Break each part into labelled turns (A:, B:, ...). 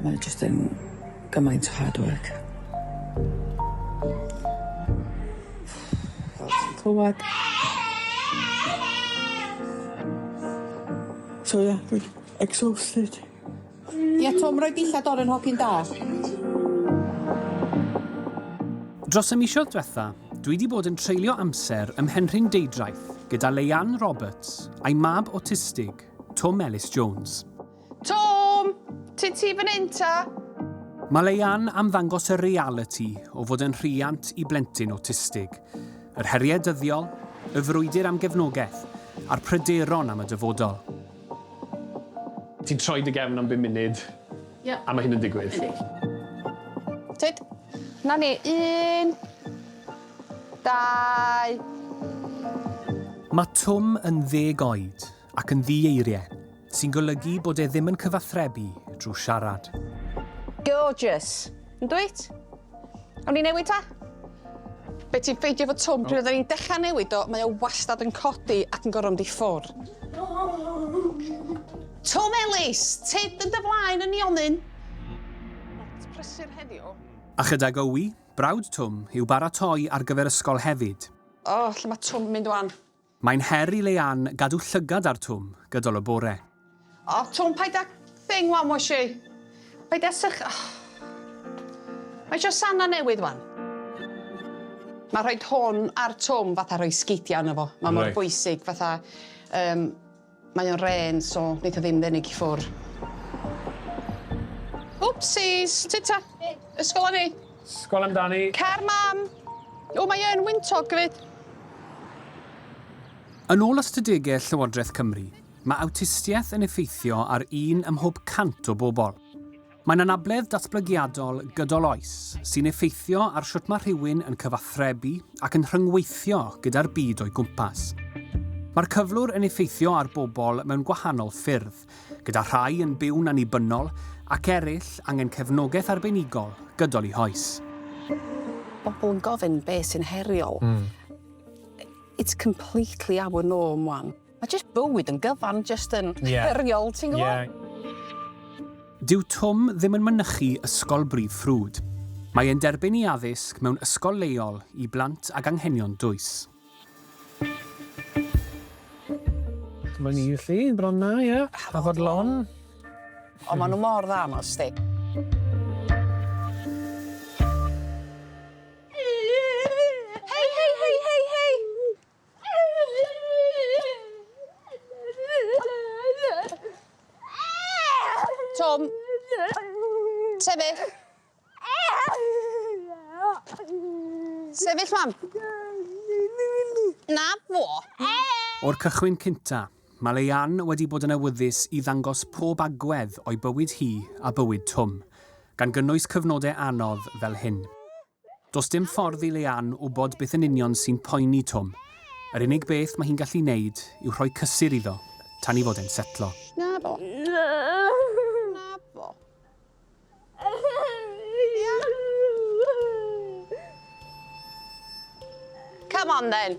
A: Mae o jyst yn gymaint o hard work. Fel ti'n clywad. So yeah, dwi exhausted.
B: Ie Twm, rhoi dillad oren hogyn da.
C: Dros y misoedd diwetha, dwi wedi bod yn treulio amser ym Mhenrhyn Deudraeth gyda Leianne Roberts, a'i mab awtistig, Twm Elis Jones. Twm!
B: Ti ti fan hyn ta? Mae
C: Leanne am ddangos y realiti o fod yn rhiant i blentyn awtistig, yr heriau dyddiol, y frwydr am gefnogaeth, a'r pryderon am y dyfodol.
D: Ti'n troi dy gefn am bum munud, yeah. a mae hyn yn digwydd.
B: Tyd, na ni, un, Dau!
C: Mae Twm yn ddeg oed ac yn ddi-eiriau, sy'n golygu bod e ddim yn cyfathrebu drwy siarad. Gorgeous!
B: Yndwyt? Awn ni newid ta? Be ti'n ffeindio fo Twm, pryd oedden ni'n dechrau newid o, mae o wastad yn codi ac yn gorfod mynd i ffwr. Twm Ellis! Tyd yn dy flaen yn nionyn! Lot prysur heddiw. A chydag Owi,
C: Brawd Twm yw baratoi ar gyfer ysgol hefyd. O, lle mae Twm
B: mynd wan? Mae'n her i
C: Leanne gadw llygad ar Twm gydol y bore. O, Twm,
B: paid â thing wan, wash i. Paid â sych... Oh. Mae eisiau sana newydd wan. Mae rhoi hwn ar Twm fatha rhoi sgidiau yno fo. Mae mor bwysig fatha... Um, Mae o'n rên so neith o ddim ddenig i ffwr. Wpsîs! Tyd ta! Ysgol a ni! Sgol amdani!
D: Car mam!
B: O mae yn wyntog gyfyd!
C: Yn ôl ystadegau Llywodraeth Cymru, mae awtistiaeth yn effeithio ar un ym mhob 100 o bobl. Mae'n anabledd datblygiadol gydol oes, sy'n effeithio ar sut mae rhywun yn cyfathrebu ac yn rhyngweithio gyda'r byd o'i gwmpas. Mae'r cyflwr yn effeithio ar bobl mewn gwahanol ffyrdd, gyda rhai yn byw'n annibynnol ac eraill angen cefnogaeth arbenigol gydol i hoes.
B: Bobl yn gofyn beth sy'n heriol. It's completely out of norm wan. Mae jyst bywyd yn gyfan jyst yn yeah. heriol, ti'n gwybod? Yeah.
C: Dyw Twm ddim yn mynychu Ysgol Brif Ffrwd. Mae e'n derbyn i addysg mewn ysgol leol i blant ag anghenion dwys.
D: Mae'n ni felly, bron na, ie. A fod lon.
B: Ond maen nhw mor dda, mas di. Tom. Sefyll. Sefyll, mam. Na, fo. O'r
C: cychwyn cynta, mae Leian wedi bod yn awyddus i ddangos pob agwedd o'i bywyd hi a bywyd Twm, gan gynnwys cyfnodau anodd fel hyn. Does dim ffordd i Leanne wybod beth yn union sy'n poeni Twm. Yr unig beth mae hi'n gallu wneud yw rhoi cysur iddo tan i fod e'n setlo. Naddo.
B: Naddo. Come on then.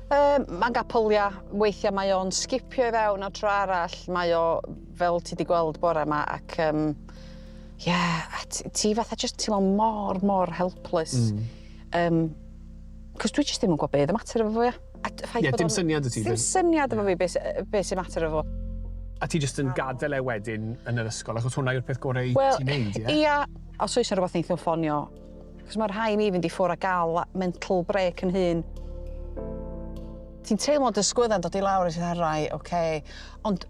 D: Yym, mae'n gapel,
B: ia. Weithiau mae o'n sgipio i fewn o tro arall, mae o, fel ti di gweld bore yma, ac um, yeah, a ti, ti fatha just teimlo mor, mor helpless. Mm. Um, Cos dwi jyst ddim yn gwybod beth y mater efo fo, ia. Ie, yeah, dim syniad y ti. Dim
D: syniad efo fi beth
B: be sy'n mater efo fo. A ti jyst
D: yn gadael e wedyn yn yr ysgol, achos
B: hwnna
D: yw'r peth gorau well, ti'n neud, ie? Yeah? Ia, os
B: oes yna rhywbeth neithio ffonio, Cos mae rhai mi fynd i ffwr a gael mental break yn hun. Ti'n teimlo dy sgwydda'n dod i lawr a ti'n dda, rai, oce. Okay. Ond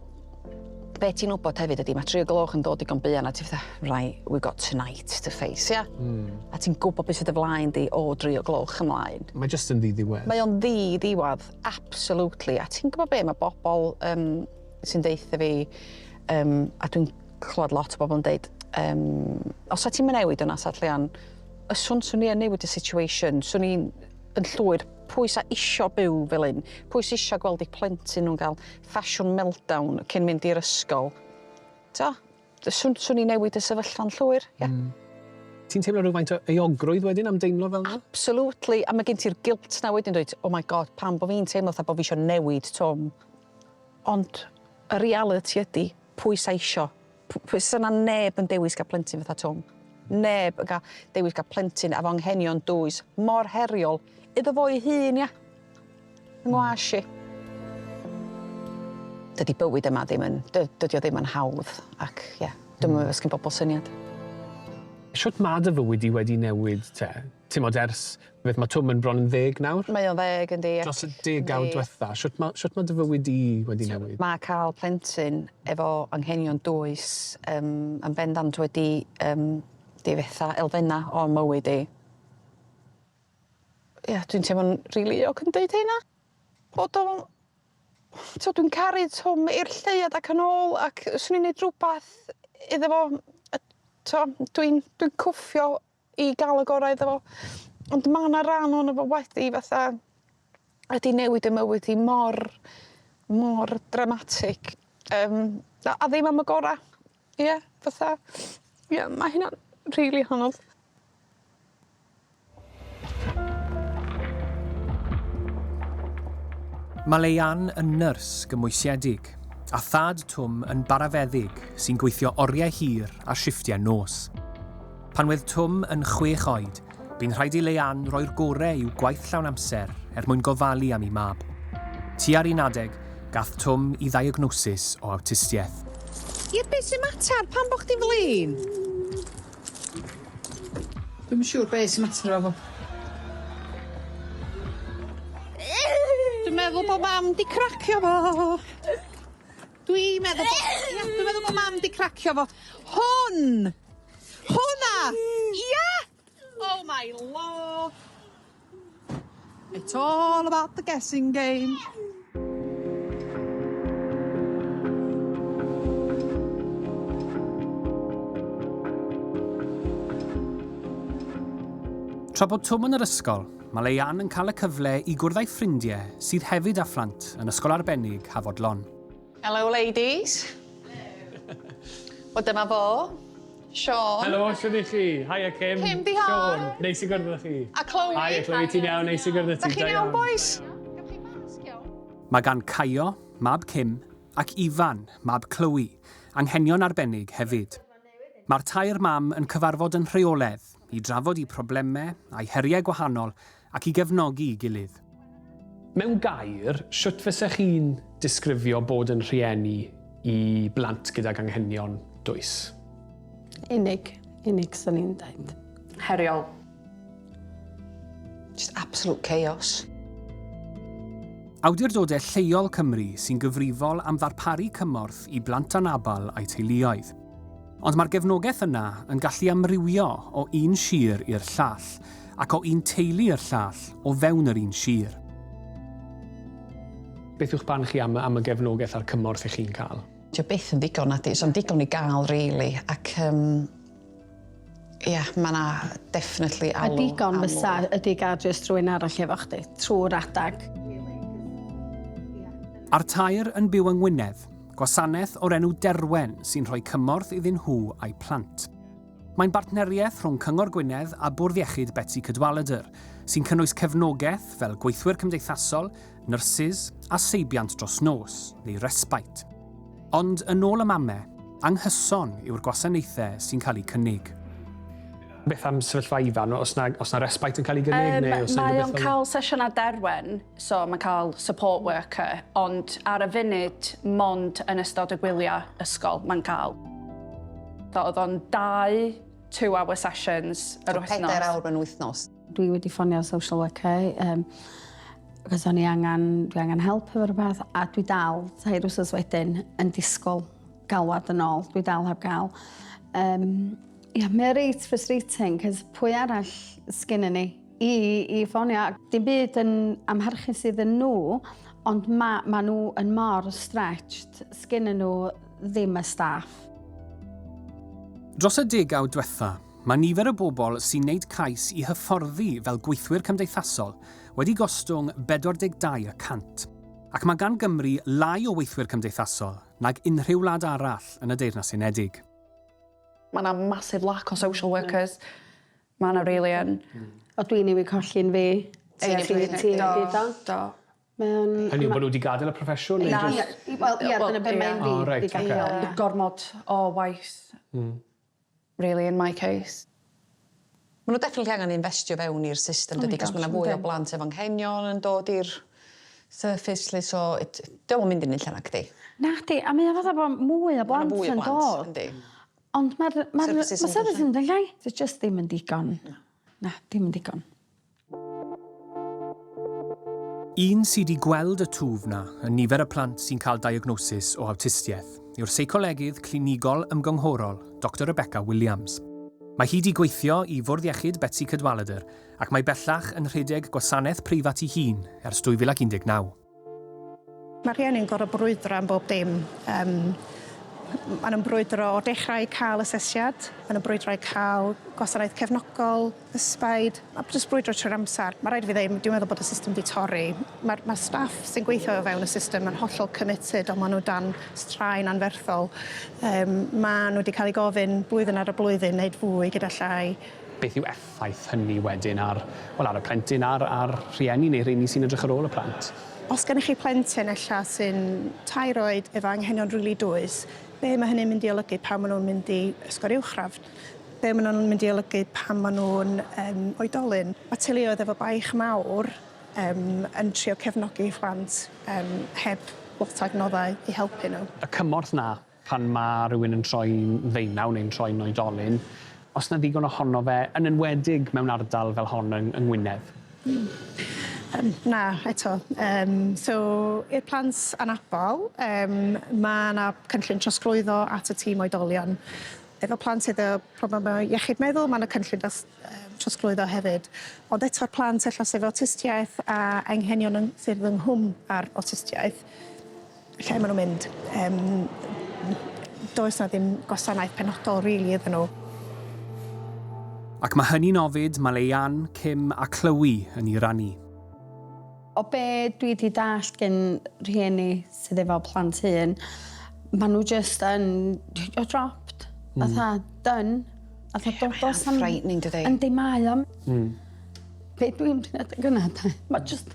B: be ti'n wybod hefyd ydy, mae tri o gloch yn dod i digon buan a ti'n fatha, rai, we got tonight to face, ia? Yeah? Mm. A ti'n gwybod beth sydd y flaen di o dri o gloch ymlaen. Mae jyst yn ddi-ddiwedd.
D: Mae o'n ddi-ddiwedd,
B: absolutely. A ti'n gwybod be, mae bobl um, sy'n deitha fi, um, a dwi'n clywed lot o bobl yn deud, um, os ti'n mynd newid yna, Sat Leon, y swn swn i yn newid y situation, swn i'n yn llwyr pwy sy'n isio byw fel un, pwy sy'n isio gweld i plentyn nhw'n cael ffasiwn meltdown cyn mynd i'r ysgol. Ta, swn, swn i newid y sefyllfa'n llwyr, ie. Yeah. Mm. Ti'n teimlo
D: rhywfaint o eogrwydd wedyn am deimlo fel yna? Absolutely, a mae gen
B: ti'r guilt na wedyn dweud, oh my god, pam bod fi'n teimlo fatha bod fi eisiau newid Tom. Ond y reality ydy, Pwy sy eisio? Pwy... 'sa 'na neb yn dewis cael plentyn fatha Twm. Neb yn cael dewis cael plentyn efo anghenion dwys mor heriol iddo fo'i hun, ia? Yng ngwash i. Dydi bywyd yma ddim yn... dy- dydi o ddim yn hawdd ac, ia, dwi'm yn meddwl os gin bobl syniad.
D: Shwt ma' dy fywyd di wedi newid te? Timod, ers, beth, mae Twm yn bron yn ddeg nawr? Mae o'n ddeg, yndi, ac...
B: Dros y degawd
D: dwetha, shwt ma', shwt ma' dy fywyd di wedi newid? Mae cael plentyn
B: efo anghenion dwys, yym, yn bendant wedi, yym, difetha elfenna o'n mywyd i. Ie, dwi'n teimlo'n rili euog yn deud hynna, bod o'n... T'mod, dwi'n caru Twm i'r lleuad ac yn ôl, ac 'swn i'n neud rwbath iddo fo, a t'mo', dwi'n, dwi'n cwffio i gael y gorau iddo fo. Ond mae yna rhan ohono fo wedi fatha wedi newid y mywyd i mor mor dramatig Um, a, a ddim am y gorau. Ie, yeah, fatha. Ie, yeah, mae hynna'n rili really hanodd.
C: Mae Leian yn nyrs gymwysiedig, a thad Twm yn barafeddyg sy'n gweithio oriau hir a shifftiau nos. Pan oedd Twm yn chwech oed, bu'n rhaid i Leanne roi'r gorau i'w gwaith llawn amser er mwyn gofalu am ei mab. Tua'r un adeg, gath Twm i ddeiagnosis o awtistiaeth. Ie, be
B: sy'n mater? Pam bo chdi'n flin? Dwi'm yn siŵr be sy'n mater efo fo. Dwi'n meddwl bo mam di cracio fo. Dwi meddwl bo... Ia! Dwi meddwl bo mam 'di cracio fo. Hwn! Hwnna! Ia! Oh my law! It's all about the guessing game.
C: Tra bod Twm yn yr ysgol, Mae Leanne yn cael y cyfle i gwrdd â'i ffrindiau sydd hefyd â phlant yn Ysgol Arbennig Hafod Lon. Helo
B: ladies. Helo. Wel dyma fo. Siôn. Helo, shwd i chi?
D: Haia Kim. Kim di hon. Siôn,
B: neis i gwrdd â chi.
D: A Chloe. Haia Chloe,
B: ti'n iawn? Neis
D: i gwrdd â ti. Da chi'n iawn bois?
B: Gewch chi masg iawn?
C: Mae gan Caio, mab Kim, ac Ifan, mab Chloe, anghenion arbennig hefyd. Mae'r tair mam yn cyfarfod yn rheoledd i drafod eu problemau a'u heriau gwahanol ac i gefnogi'i gilydd. Mewn
D: gair, sut fysa chi'n disgrifio bod yn rhieni i blant gydag anghenion dwys?
E: Unig. Unig 'swn i'n deud. Heriol.
B: Just absolute chaos.
C: Awdurdodau Lleol Cymru sy'n gyfrifol am ddarparu cymorth i blant anabl a'u teuluoedd. Ond mae'r gefnogaeth yna yn gallu amrywio o un sir i'r llall ac o un teulu i'r llall o fewn yr un sir.
D: Beth yw'ch barn chi am am y gefnogaeth a'r cymorth 'ych chi'n cael? Dyw e byth yn ddigon,
B: nadi? Does na'm digon i gael rili ac yym Ia, mae 'na definitely alw am mwy. A digon fysa,
E: ydy gael jyst rhywun arall efo chdi, trwy'r adeg.
C: A'r tair yn byw yng Ngwynedd, gwasanaeth o'r enw Derwen sy'n rhoi cymorth iddyn nhw a'u plant. Mae'n bartneriaeth rhwng Cyngor Gwynedd a Bwrdd Iechyd Betsi Cadwaladr, sy'n cynnwys cefnogaeth fel gweithwyr cymdeithasol, nyrsys a seibiant dros nos neu respite. Ond yn ôl y mame, anghyson yw'r gwasanaethau sy'n cael eu cynnig. Beth
D: am sefyllfa Ifan, os na, os na respite yn cael ei gynnig um, neu os Mae o'n cael
E: sesiynau derwen, so mae'n cael support worker, ond ar y funud, mond yn ystod y gwyliau ysgol mae'n cael. Oedd o'n dau two-hour sessions yr wythnos. Pedair awr yn wythnos.
B: Dwi wedi ffonio
F: social worker um, achos o'n i angen, dwi angen help efo rhywbeth a dwi dal tair wsos wedyn yn disgwyl galwad yn ôl. Dwi dal heb gael. Um, ia, yeah, mae reit frustrating, cos pwy arall sgyn ni i, i ffonio. Dim byd yn amharchu sydd yn nhw, ond mae ma nhw yn mor stretched, sgyn nhw ddim y staff.
C: Dros y degawd diwetha, Mae nifer y bobl sy'n wneud cais i hyfforddi fel gweithwyr cymdeithasol wedi gostwng 42 y cant, ac mae gan Gymru lai o weithwyr cymdeithasol nag unrhyw wlad arall yn y Deyrnas Unedig.
E: Mae 'na massive lack o social workers. Mae 'na rili yn. O dwi newydd
F: colli un fi. Ti newydd colli un fi. Do. Ti newydd colli un fi do. Do.
E: Mae o'n... Hynny
D: yw bod nhw wedi gadael y proffesiwn neu jyst... Na, wel ia,
F: dyna be' mae un fi 'di gadel.
D: Gormod o
E: waith. Hmm. really in my case.
B: Ma' nhw definitely angen infestio fewn i'r system dydi cos ma' 'na fwy o blant efo anghenion yn dod i'r surface 'lly so it dyw o'm yn mynd i'r un lle nacdi? Nacdi a mae o
F: fatha bo' mwy o blant yn dod. Yndi. Ond ma'r ma'r ma' services yn mynd yn llai. Sy jyst ddim yn digon. Na. Na dim yn digon.
C: Un sydd wedi gweld y twf 'na yn nifer y plant sy'n cael diagnosis o awtistiaeth yw'r seicolegydd clinigol ymgynghorol, Doctor Rebecca Williams. Mae hi wedi gweithio i Fwrdd Iechyd Betsi Cadwaladr ac mae bellach yn rhedeg gwasanaeth preifat ei hun ers 2019.
G: Mae rhieni'n gorfod brwydro am bob dim. Um, maen nhw'n brwydro o dechrau i cael asesiad, maen nhw'n brwydro i cael gwasanaeth cefnogol, ysbaid, a jyst brwydro trwy'r amser. Mae rhaid i fi ddeud, dwi'n meddwl bod y system wedi torri. Mae'r ma staff sy'n gweithio o fewn y system yn hollol committed, ond maen nhw dan straen anferthol. Um, maen nhw wedi cael ei gofyn blwyddyn ar y blwyddyn wneud fwy gyda llai. Beth yw
D: effaith hynny wedyn ar, wel, ar y plentyn a'r, a'r rhieni neu rheini sy'n edrych ar ôl y plant. Os gennych chi
G: plentyn ella sy'n tair oed efo anghenion rili dwys, be' ma' hynny'n mynd i olygu pan ma' nhw'n mynd i ysgol uwchradd? Be' ma' nhw'n mynd i olygu pan ma' nhw'n yym oedolyn? Ma' teuluoedd efo baich mawr yym yn trio cefnogi 'u phlant yym heb lot o adnoddau i helpu nhw. Y cymorth 'na
D: Pan mae rhywun yn troi'n ddeunaw neu'n troi'n oedolyn, os na ddigon ohono fe, yn enwedig mewn ardal fel hon yng Ngwynedd? Yym, na,
G: eto. Yym, so, i'r plant anabl, yym, mae yna cynllun trosglwyddo at y tîm oedolion. Efo plant sydd â problemau iechyd meddwl, mae yna cynllun dros, yym, trosglwyddo hefyd. Ond eto'r plant ella sydd efo awtistiaeth a anghenion yn ffurf yng nghwm â'r awtistiaeth, lle ma' nw'n mynd yym does 'na ddim gwasanaeth penodol rili iddyn nhw.
C: Ac ma' hynny'n ofid, ma' Leyann, Kim a Chloe yn i rannu. O
F: be dwi di dallt gin rhieni sydd efo plant hŷn, ma' nhw jyst yn you're dropped. Fatha done. Fatha do- do's 'na'm... Ie mae o'n frightening dydi? Yndi mae
B: o. Hmm.
F: Be dwi'n trio deud gynna 'de ma' jyst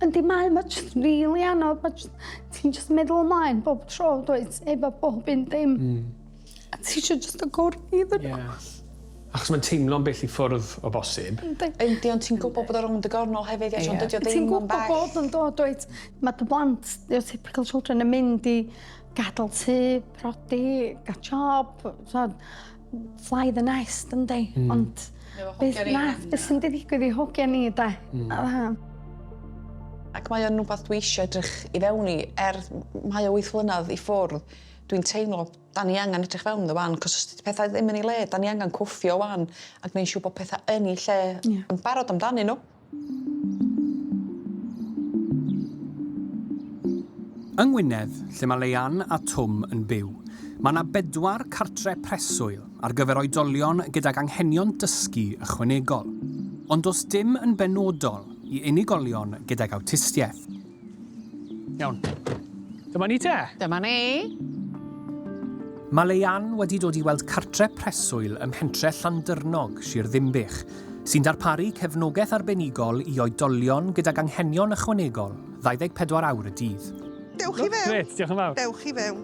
F: Yndi mae, mae jyst yn rili anodd, mae jyst, ti'n jyst meddwl ymlaen bob tro, dweud, efo bob un dim. Mm. A ti eisiau jyst y gwrdd i ddyn nhw. Yeah. Achos mae'n
D: teimlo'n bell i ffwrdd o bosib. Yndi, ond ti'n
B: gwybod bod o rhwng dy gornol hefyd, ie, ond dydy o ddim yn bell. Ti'n gwybod bod yn dod,
F: dweud, mae dy blant, your typical children, yn mynd i gadael tu, prodi, gael job, fly the nest yndi? Mm. Ond beth na, beth sy'n ddigwydd i hogia ni da? Mm. A dda.
B: Ac mae o'n rhywbeth dwi eisiau edrych i fewn i, er mae o wyth flynedd i ffwrdd, dwi'n teimlo, da ni angen edrych fewn ddo fan, cos os dydy pethau ddim yn ei le, da ni angen cwffio wan, ac mae'n siw bod pethau yn ei lle yeah. yn barod amdanyn nhw.
C: Yng Ngwynedd, lle mae Leanne a Twm yn byw, mae yna bedwar cartre preswyl ar gyfer oedolion gydag anghenion dysgu ychwanegol, ond does dim yn benodol i unigolion gydag awtistiaeth.
D: Iawn. Dyma ni te. Dyma ni.
C: Mae Leian wedi dod i weld cartre preswyl ym mhentre Llandyrnog, Sir Ddimbych, sy'n darparu cefnogaeth arbenigol i oedolion gydag anghenion ychwanegol 24 awr y dydd. Dewch i fewn. Gret,
H: diolch yn fawr. Dewch i fewn.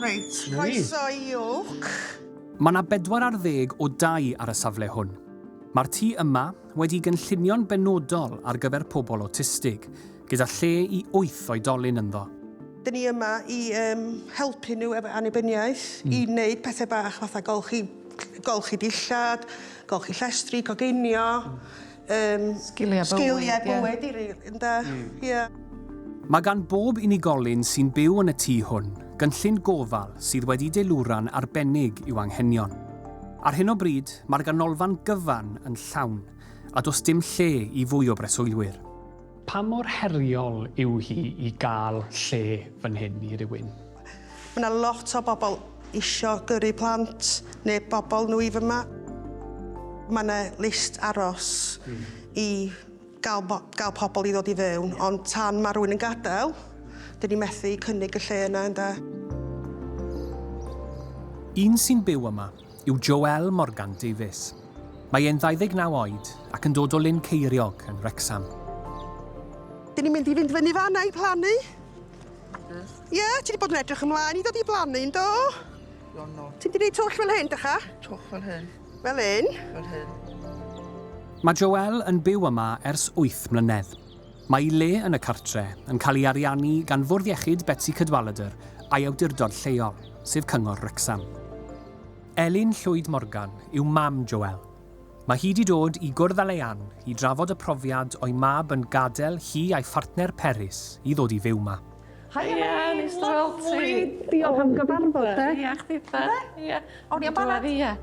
H: Reit, croeso i Oak. Mae yna
C: bedwar ar ddeg o dai ar y safle hwn. Mae'r tŷ yma, wedi gynllunio'n benodol ar gyfer pobl awtistig, gyda lle i wyth oedolyn ynddo. Dyn ni
H: yma i um, helpu nhw efo annibyniaeth, mm. i wneud pethau bach fatha golchi, golchi dillad, golchi llestri, coginio, mm. um, sgiliau bywyd, sgiliau bywyd yeah. i rili, ynda. Mm. Yeah.
C: Mae gan bob unigolyn sy'n byw yn y tŷ hwn gynllun gofal sydd wedi deilwra'n arbennig i'w anghenion. Ar hyn o bryd, mae'r ganolfan gyfan yn llawn, a does dim lle i fwy o breswylwyr. Pa mor
D: heriol yw hi i gael lle fan hyn i rywun? Mae 'na
H: lot o bobl isio gyrru plant neu bobl nhw i fama. Mae 'na list aros i Gall gall pobl i ddod i fewn, ond tan mae rhywun yn gadael, dyn ni methu cynnig y lle yna, ynde?
C: Un sy'n byw yma yw Joelle Morgan Davies. Mae e'n 29 oed ac yn dod o Lyn Ceiriog yn Wrecsam.
H: Dyn ni'n mynd i fynd fyny fan'na i plannu. Ie, yeah, ti wedi bod yn edrych ymlaen i ddod i blannu, yndo? Ti'n di neud twll fel hyn, dych a? Twll fel hyn.
A: Fel hyn. Fel hyn.
C: Mae Joelle yn byw yma ers wyth mlynedd. Mae'i le yn y cartre yn cael ei ariannu gan Fwrdd Iechyd Betsi Cadwaladr a'i awdurdod lleol, sef Cyngor Wrecsam. Elin Llwyd Morgan yw mam Joelle. Mae hi 'di dod i gwrdd â Leanne i drafod y profiad o'i mab yn gadael hi a'i phartner Peris i ddod i fyw 'ma. Hiya, neis
I: dy weld ti. Lyfli. Diolch am gyfarfod
G: de. Ia, chdi ta.
I: Ia. Awn ni am banad. Ia.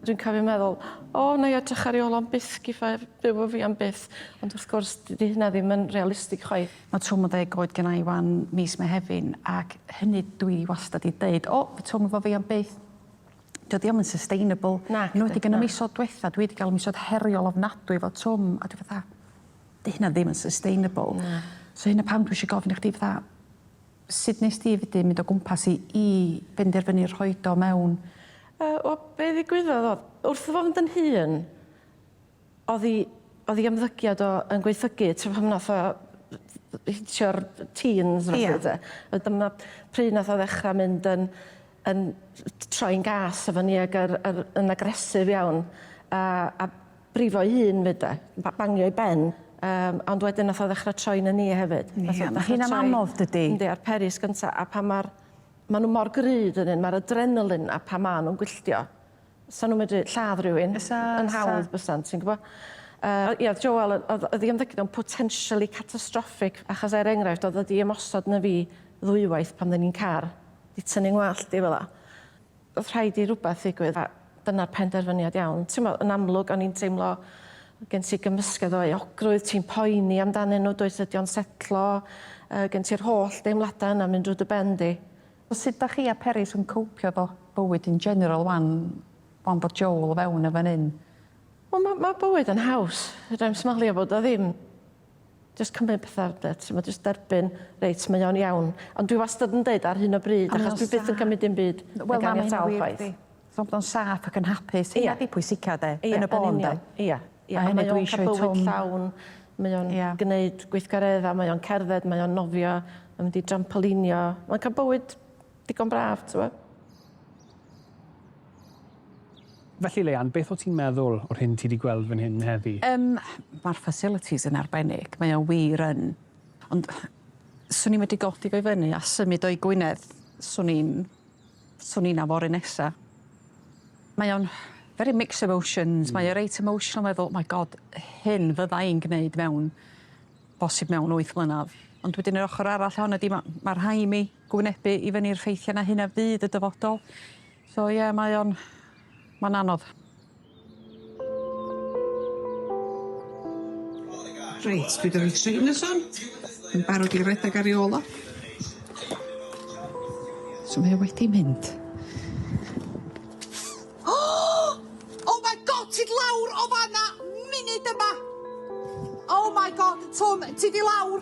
I: Dwi'n cofio meddwl, o, na i edrych ar ei ôl o'n byth giffa byw o fi am byth. Ond wrth gwrs, dydy hynna ddim yn realistig chwaith. Mae twm o ddeg oed
J: gennau wan mis Mehefin ac hynny dwi wastad i dweud, o, fy twm efo fi am byth. dydi o'm yn sustainable. Nac 'di. Enwedig yn y misodd dwetha dwi 'di ga'l misodd heriol ofnadwy efo Twm a dwi fatha 'di hynna ddim yn sustainable. Na. So hynna pam dwi isio gofyn i chdi fatha sud nest ti fedru mynd o gwmpas i i benderfynu rhoid o mewn? Yy wel be'
I: ddigwyddodd o'dd wrth i fo fynd yn hŷn Oddi, oddi ymddygiad o yn gwaethygu tra pan nath o hitio'r teens felly Ia. de. A dyma pryd nath o ddechra mynd yn yn troi'n gas efo ni ag yr yr yn aggressive iawn a a brifo'i hun 'fyd de. Ba- bangio'i ben. Yym ond wedyn nath o ddechra troi'n yn ni hefyd. Nath o Ia ma' dechra hynna'n troi anodd
J: dydi? Yndi a'r peris gynta
I: a pan ma'r ma' n'w mor gry 'dyn n'w ma'r adrenaline 'na pan ma' nw'n gwylltio 'Sa nhw'n medru lladd rhywun... Bysa, bysa. ...yn hawdd bysan, ti'n gwybod. Yy ia, oedd Joel yn... oedd oedd ei ymddygiad o'n potentially catastrophic achos er enghraifft oedd o 'di ymosod arna fi ddwywaith pan oedden ni'n car, 'di tynnu 'ngwallt i fela. Oedd rhaid i rywbeth ddigwydd a dyna'r penderfyniad iawn. Timod, yn amlwg o'n i'n teimlo gen ti gymysgedd o euogrwydd, ti'n poeni amdanyn nhw, dwyt, ydy o'n setlo, yy gen ti'r holl deimladau yna'n mynd drwy dy ben di. Sut dach chi
J: a Peris yn cowpio efo bywyd in general wan, wan bod Joel o fewn yn fan 'yn? Wel ma' ma'
I: bywyd yn haws. Fedrai'm smalio bod o ddim. Jyst cymryd petha de, t'mod jyst derbyn, reit mae o'n iawn. Ond dwi wastad yn deud ar hyn o bryd achos dwi byth yn cymryd dim byd yn ganiataol chwaith. Teimlo'n saff
J: ac yn hapus. Ia. Hynna 'di pwysica 'de? Ia. Yn y bôn 'de? Ia. Ia. A hynny
I: dwi isio i Twm... Mae o'n ca'l bywyd llawn. Mae o'n... Ia. ...gneud gweithgaredda, mae o'n cerdded, mae o'n nofio, mae'n mynd i drampolinio. Mae'n ca'l bywyd digon braf, t'mo'?
D: Felly Leanne, beth o' ti'n meddwl o'r hyn ti 'di gweld fan hyn heddi? Yym, ma'r
J: facilities yn arbennig, mae o wir yn. Ond swn i medru godi fo i fyny a symud o i Gwynedd, swn i'n Swn i 'na fory nesa. Mae o'n very mixed emotions mae o reit emotional meddwl my God hyn fydda i'n gneud mewn bosib mewn wyth mlynadd ond wedyn yr ochor arall ohona di ma' ma' rhai mi gwynebu i fyny'r ffeithia 'na hynna fydd y dyfodol. So ie mae o'n ma'n anodd.
K: Reit, dwi 'da fi trainers on, yn barod i redag ar 'i ôl o. So mae o wedi mynd.
H: Oh my God, ti 'di lawr o fan 'na munud yma! Oh my God, Twm, ti 'di lawr.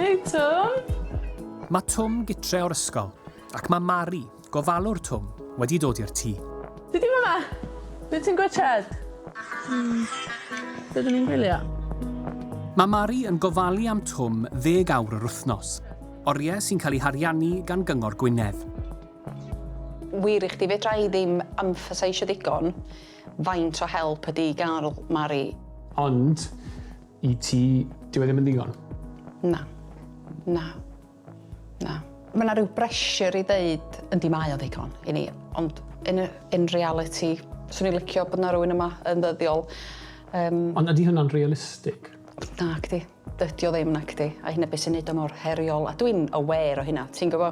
L: Hei Twm! Mae
C: Twm gytre o'r ysgol, ac mae Mari, Gofalwr Twm wedi dod i'r tŷ. Be di fama?
L: Be ti'n gwitchad? Hmm. Be dyn ni'n gwylio? Mae
C: Mari yn gofalu am Twm ddeg awr yr wythnos, oriau sy'n cael ei hariannu gan Gyngor Gwynedd.
B: Wir i chdi, fedra i ddim emphasisio digon faint o help ydi gael Mari. Ond,
D: i ti, dyw e ddim yn ddigon? Na.
B: Na. Na. Mae 'na rhyw bressure i ddeud, yndi mae o'n ddigon i ni, ond yn y... in reality, 'swn i'n licio bod 'na rywun yma yn ddyddiol. Yym. Ond
D: ydi hynna'n realistig? Nacdi.
B: Dydi o ddim, nacdi. A hynna be' sy'n neud o mor heriol, a dwi'n aware o hynna, ti'n gwbo.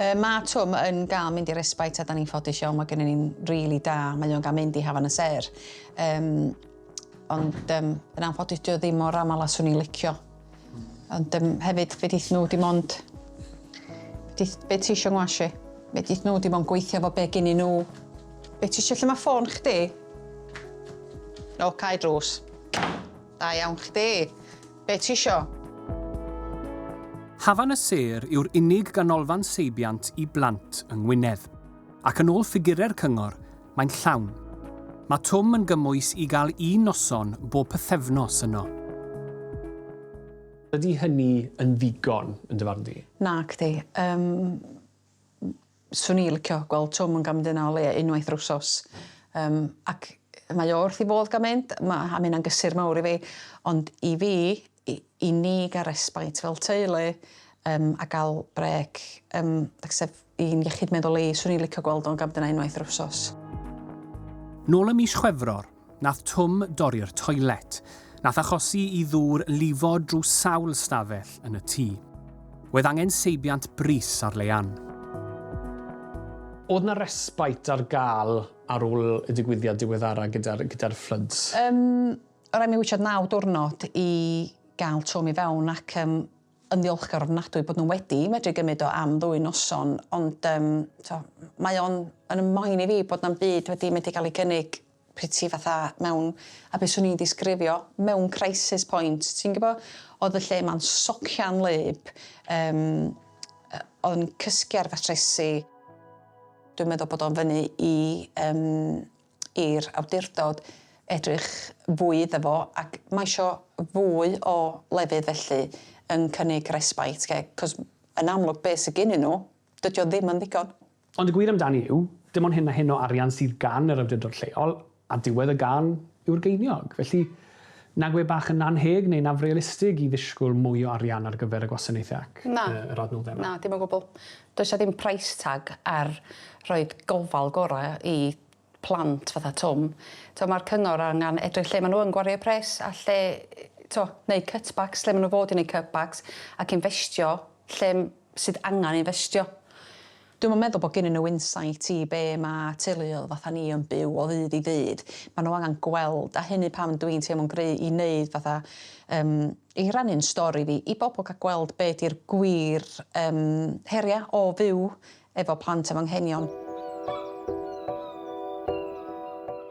B: Yy ma' Twm yn ga'l mynd i respite a 'dan ni'n ffodus iawn, ma' gennyn ni'n rili da, mae o'n ga'l mynd i Hafan y Sêr. Yym. Ond yym yn anffodus 'di o ddim mor amal a 'swn i'n licio. Ond um, hefyd, fe dith nhw dim ond... Dith, be ti eisiau ngwashi? Fe dith nhw dim ond gweithio fo be gyn i nhw. Be ti eisiau lle mae ffôn chdi? No, cae drws. Da iawn chdi. Be ti eisiau?
C: Hafan y Sêr yw'r unig ganolfan seibiant i blant yng Ngwynedd, ac yn ôl ffigurau'r cyngor, Mae'n llawn. Mae Twm yn gymwys i gael un noson bob pythefnos yno.
D: Ydy hynny yn ddigon, yn dy farn di? Nacdi. Yym,
B: 'swn i licio gweld Twm yn gamdena o leia unwaith yr wsos. Yym, ac mae o wrth 'i fodd gan mynd, ma', a ma' hynna'n gysur mawr i fi. Ond i fi, i i ni gael respite fel teulu, yym, a gael brêc, yym, like sef, i'n iechyd meddwl i, 'swn i'n licio gweld o'n gam dyna unwaith yr wsos.
C: Nôl ym mis Chwefror, nath Twm dorri'r toilet, nath achosi i ddŵr lifo drws sawl stafell yn y tŷ. Oedd angen seibiant brys ar Leanne.
D: Oedd 'na respite ar gael ar ôl y digwyddiad diweddara gyda'r gyda'r fflwds? Yym, o' raid
B: mi witsiad naw diwrnod i gael Twm i fewn ac yym yn ddiolchgar ofnadwy bod nhw wedi medru gymryd o am ddwy noson, ond um, to, mae o'n yn ymlaen i fi bod na'n byd wedi medru cael ei gynnig pryd ti fatha mewn, a beth swn i'n disgrifio, mewn crisis point, ti'n gybo, oedd y lle ma'n socian lyb, um, oedd yn cysgu ar fatresi, dwi'n meddwl bod o'n fyny i um, i'r awdurdod edrych fwy iddo fo ac mae isio fwy o lefydd felly yn cynnig respite care 'c'os yn amlwg be' sy gynnyn nhw, dydi o ddim yn ddigon. Ond y gwir amdani
D: yw, dim ond hyn a hyn o arian sydd gan yr awdurdod lleol, a diwedd y gân yw'r geiniog. Felly, nag yw e bach yn annheg neu'n afrealistig i ddisgwyl mwy o arian ar gyfer y gwasanaethau ac yr adnoddau yma? Na, dim o gwbl.
B: Does 'na ddim price tag ar rhoid gofal gora i plant fatha Twm. T'o ma'r cyngor angan edrych lle ma nhw yn gwario eu pres a lle t'o neud cutbacks lle ma nhw fod i neud cutbacks ac infestio lle sydd angan infestio. Dwi'm yn meddwl bod gennyn nhw insight i be ma teuluoedd fatha ni yn byw o ddydd i ddydd. Ma nhw angan gweld a hynny pam dwi'n teimlo'n gry i neud fatha yym i rannu'n stori fi i bobl ca gweld be di'r gwir yym heria o fyw efo plant efo anghenion.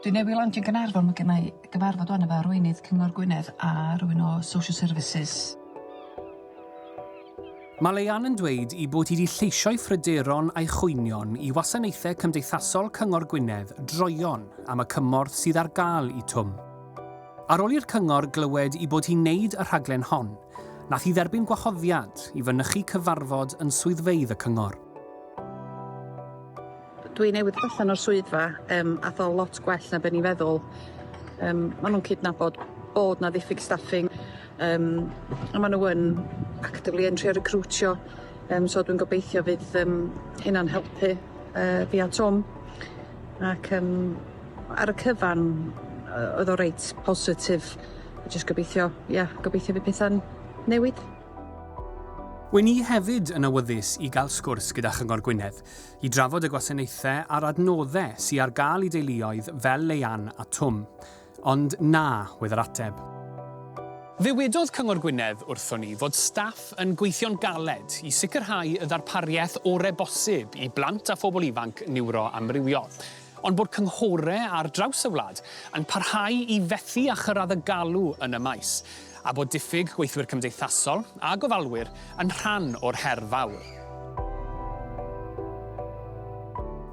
M: Dwi newydd landio yn Gaernarfon ma gennai gyfarfod wan efo arweinydd Cyngor Gwynedd a rywun o Social Services.
C: Mae Leanne yn dweud i bod hi di lleisio'i phryderon a'i chwynion i Wasanaethau Cymdeithasol Cyngor Gwynedd droeon am y cymorth sydd ar gael i Twm. Ar ol i'r cyngor glywed i bod hi'n neud y rhaglen hon, nath hi dderbyn gwahoddiad i fynychu cyfarfod yn swyddfeydd y cyngor.
E: Dwi newydd dod allan o'r swyddfa yym ath o lot gwell na be' ni feddwl. Yym ma' nhw'n cydnabod bod 'na ddiffyg staffing yym a ma' nhw yn actively yn trio recriwtio yym so dwi'n gobeithio fydd yym hynna'n helpu yy fi a Twm ac yym Ar y cyfan oedd o reit positif. Jyst gobeithio, ia, gobeithio fydd pethau'n newid.
C: Wy'n i hefyd yn awyddus i gael sgwrs gyda Chyngor Gwynedd, i drafod y gwasanaethau a'r adnoddau sy ar gael i deuluoedd fel Leanne a Twm. Ond na, oedd yr ateb. Ddywedodd Cyngor Gwynedd wrthon ni fod staff yn gweithio'n galed i sicrhau y ddarpariaeth orau bosib i blant a phobl ifanc niwroamrywiol. ond bod cynghore ar draws y wlad yn parhau i fethu â chyrraedd y galw yn y maes, a bod diffyg gweithwyr cymdeithasol a gofalwyr yn rhan o'r her fawr.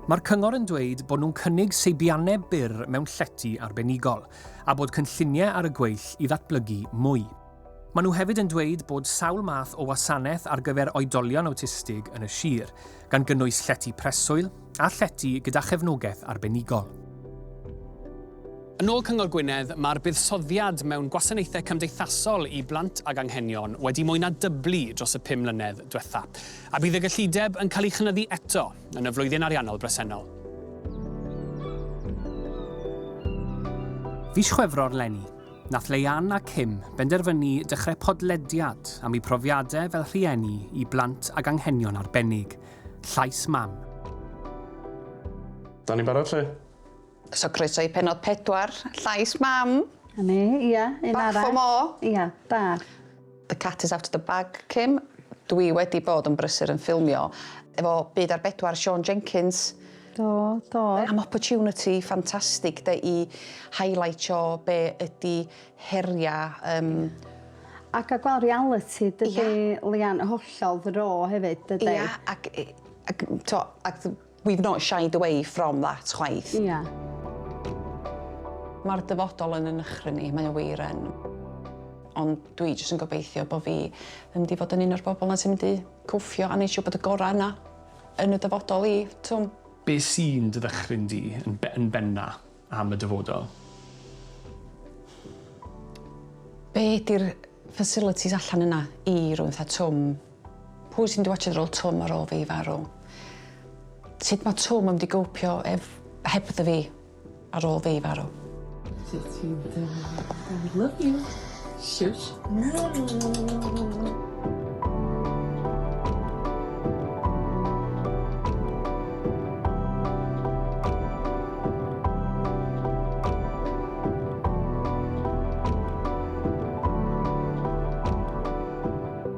C: Mae'r cyngor yn dweud bod nhw'n cynnig seibiannau byr mewn llety arbenigol, a bod cynlluniau ar y gweill i ddatblygu mwy. Maen nhw hefyd yn dweud bod sawl math o wasanaeth ar gyfer oedolion awtistig yn y sir, gan gynnwys llety preswyl a llety gyda chefnogaeth arbenigol. Yn ôl Cyngor Gwynedd, mae'r buddsoddiad mewn gwasanaethau cymdeithasol i blant ag anghenion wedi mwy na dyblu dros y pum mlynedd diwetha', a bydd y gyllideb yn cael ei chynyddu eto yn y flwyddyn ariannol bresennol. Fis Chwefror 'leni. Nath Leanne a Kim benderfynu dechrau podlediad am eu profiadau fel rhieni i blant ag anghenion arbennig. Llais Mam.
D: Da ni'n barod 'lly? So croeso
B: i pennod pedwar Llais Mam. 'Na ni, ia,
F: un arall. Bach o mo. Ia,
B: bach.
F: The cat
B: is out of the bag, Kim. Dwi wedi bod yn brysur yn ffilmio efo Byd ar Bedwar, Siôn Jenkins. Do, do.
F: Am
B: opportunity ffantastig 'de i highlightio be ydi heria yym...
F: A ca'l gweld realiti dydi... Ia. ...Leanne, hollol ddo hefyd dydi? Ia ac yy
B: ac t'o' ac We've not shied away from that chwaith. Ia. Mae'r dyfodol yn 'y nychryn i, mae o wir yn. Ond dwi jyst yn gobeithio bo' fi yn mynd i fod yn un o'r bobl 'na sy'n mynd i cwffio a neud siŵr bod y gora' yna yn y dyfodol i, t'm'? Be'
D: sy'n dy ddychryn di yn be- yn benna' am y dyfodol?
B: Be' 'di'r facilities allan yna i rywun fatha Twm? Pwy sy'n mynd i watsho'r rôl Twm ar ôl fi farw? Sut mae Twm yn mynd i gopio ef- hebddo fi ar ôl fi farw? Sut ti'n
A: teimlo? I love you. Shush.